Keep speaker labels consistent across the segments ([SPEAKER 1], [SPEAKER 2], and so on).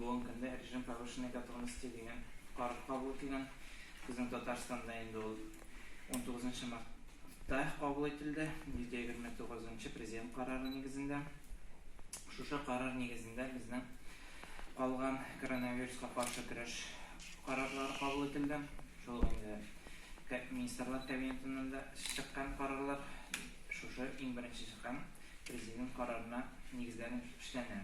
[SPEAKER 1] Бүгенге көндә режим повышенной готовности дигән карар кабул ителгән. Безнең Татарстанда инде ул 19 мартта кабул ителде, 129 нчы Президент карары нигезендә. Шушы карар нигезендә безнең калган коронавируска каршы көрәш карарлары кабул ителде. Шул ук инде Министрлар Кабинетыннан да чыккан карарлар шушы иң беренче чыккан Президент карарына нигезләнеп эшләнә.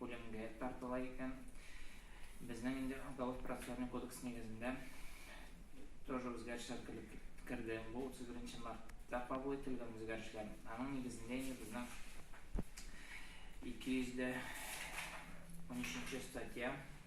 [SPEAKER 1] үлемгә тартыла икән. Безнең инде уголовно процессуальный кодекс нигезендә тоже үзгәрешләр килеп керде. Бу 31 мартта кабул ителгән үзгәрешләр. Аның нигезендә инде безнең 200 дә 13 статья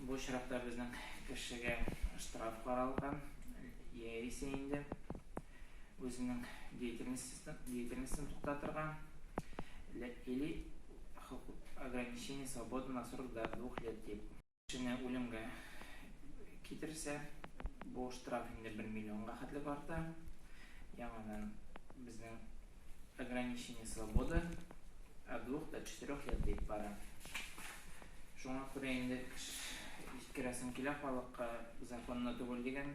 [SPEAKER 1] Бу очракта безнең кешегә штраф каралган, яисә инде үзенең деятельностен туктатырга или ограничение свободы на срок до двух лет дип. Кешене үлемгә китерсә, бу штраф инде бер миллионга хәтлек арта. Яңадан безнең Ограничение свободы от двух до четырех лет дип бара. Шуңа күрә инде җиткерәсем килә, халыкка законлы түгел дигән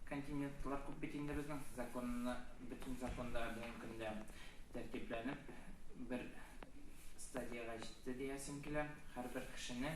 [SPEAKER 1] континентлар күп бит инде безнең. Законлы, бөтен законда бүгенге көндә тәртипләнеп, бер стадиягә җитте диясем килә. Һәрбер кешене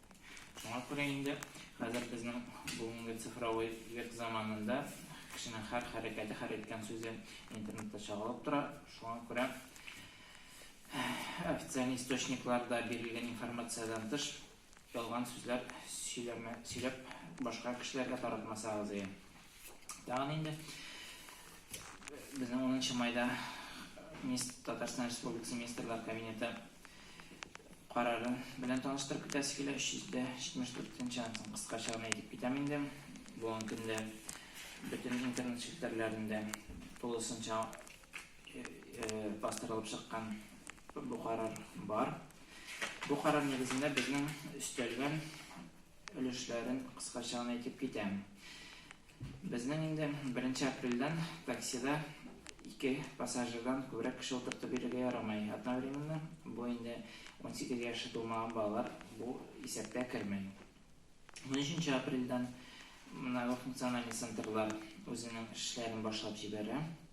[SPEAKER 1] Шуңа күрә инде хәзер безнең бүгенге цифровой век заманында кешенең һәр хәрәкәте, һәр әйткән сүзе интернетта чагылып тора. Шуңа күрә официаль источникларда бирелгән информациядән тыш ялган сүзләр сөйләмә, сөйләп башка кешеләргә таратмасагыз иде. Тагын инде безнең 10 майда Татарстан Республикасы Министрлар Кабинеты Карары белән таныштырып китәсе килә, 374 нче ансын кыскача гына әйтеп китәм инде. Бүгенге көндә бөтен интернет челтәрләрендә тулысынча бастырылып чыккан бу карар бар. Бу карар нигезендә безнең өстәлгән өлешләрен кыскача гына әйтеп китәм. Безнең инде беренче апрельдән таксида ике пассажирдан күбрәк кеше утыртып йөрергә ярамый. Одновременно бу инде унсигез яше тулмаган балалар бу исәпкә керми. Унөченче апрельдән мына бу функциональный центрлар үзенең эшләрен башлап җибәрә.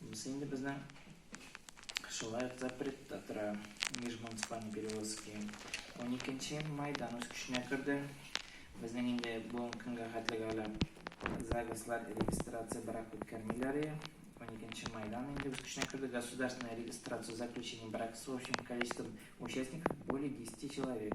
[SPEAKER 1] Бусы инде безнең шулай ук запретта тора, межмуниципальный перевозки. Уникенче майдан үз көченә керде. Безнең инде бүгенге көнгә хәтлегә әле ЗАГСлар регистрация брак үткәрмиләр иде. Уникенче майдан инде үз көченә керде. Государственная регистрация заключений брак с общим количеством участников более десяти человек.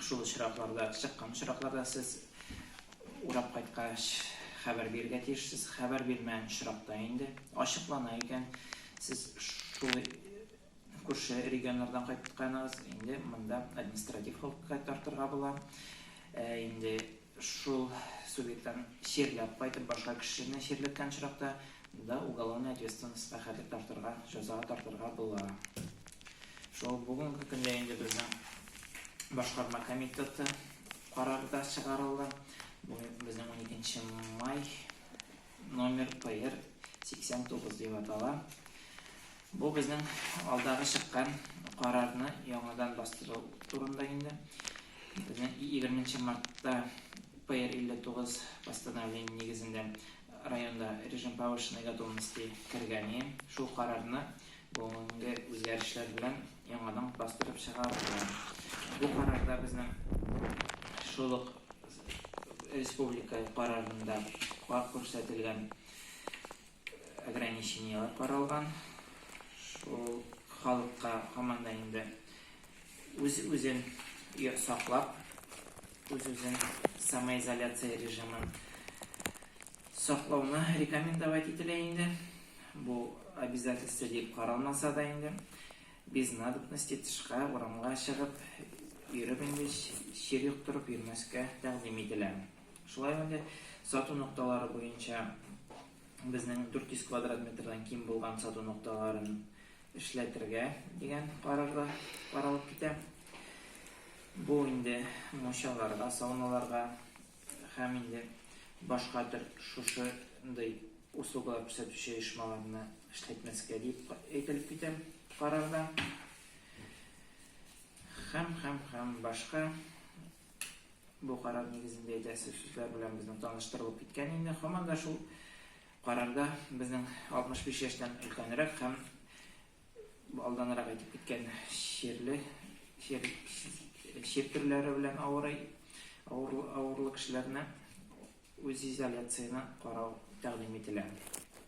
[SPEAKER 1] Шул очракларда, чыккан очракларда сез урап кайткач хәбәр бирергә тиешсез. Хәбәр бирмәгән очракта инде ачыклана икән, сез шул күрше регионнардан кайтканыгыз, инде монда административ хокукка тартырга була. Ә инде Шул субъектлар чирләп кайтып башка кешене чирләткән очракта да уголовный ответственностька хәтлек тартырга, җәзага тартырга була. Шул бүгенге көндә инде безнең башкарма комитеты карары да чыгарылды. Бу безнең уникенче май номер ПР 89 дип атала. Бу безнең алдагы чыккан карарны яңадан бастыру турында инде. Безнең егерме нче мартта ПР 59 постановление нигезендә районда режим повышенной готовности кергәни, шул карарны бүгенге үзгәрешләр белән яңадан бастырып чыгарырга. Бу карарда безнең шул ук республика карарында кар күрсәтелгән. Ограничениеләр каралган. Шул халыкка һаман да инде үз-үзен саклап, үз-үзен самоизоляция режимын саклауны рекомендовать ителә инде. Бу обязательство дип каралмаса да инде, без надобности тышка, урамга чыгып, йөреп инде чир йоктырып йөрмәскә тәкъдим ителә. Шулай ук инде сату нокталары буенча безнең 400 квадрат метрдан ким булган сату нокталарын эшләтергә дигән карар да каралып китә. Бу инде мунчаларга, сауналарга һәм инде башка төр шушындый услугалар күрсәтүче оешмаларны эшләтмәскә дип әйтелеп китә карарда. Һәм, һәм, һәм башка Бу карар нигезендә җитәкче сүзләр белән безнең таныштырылып киткән инде. Һаман да шул карарда безнең 65 яшьтән өлкәнрәк һәм алданрак әйтеп киткән чирле чир, чир төрләре белән авырый авырлы, авырлы кешеләрне үз изоляцияне карау тәкъдим ителә.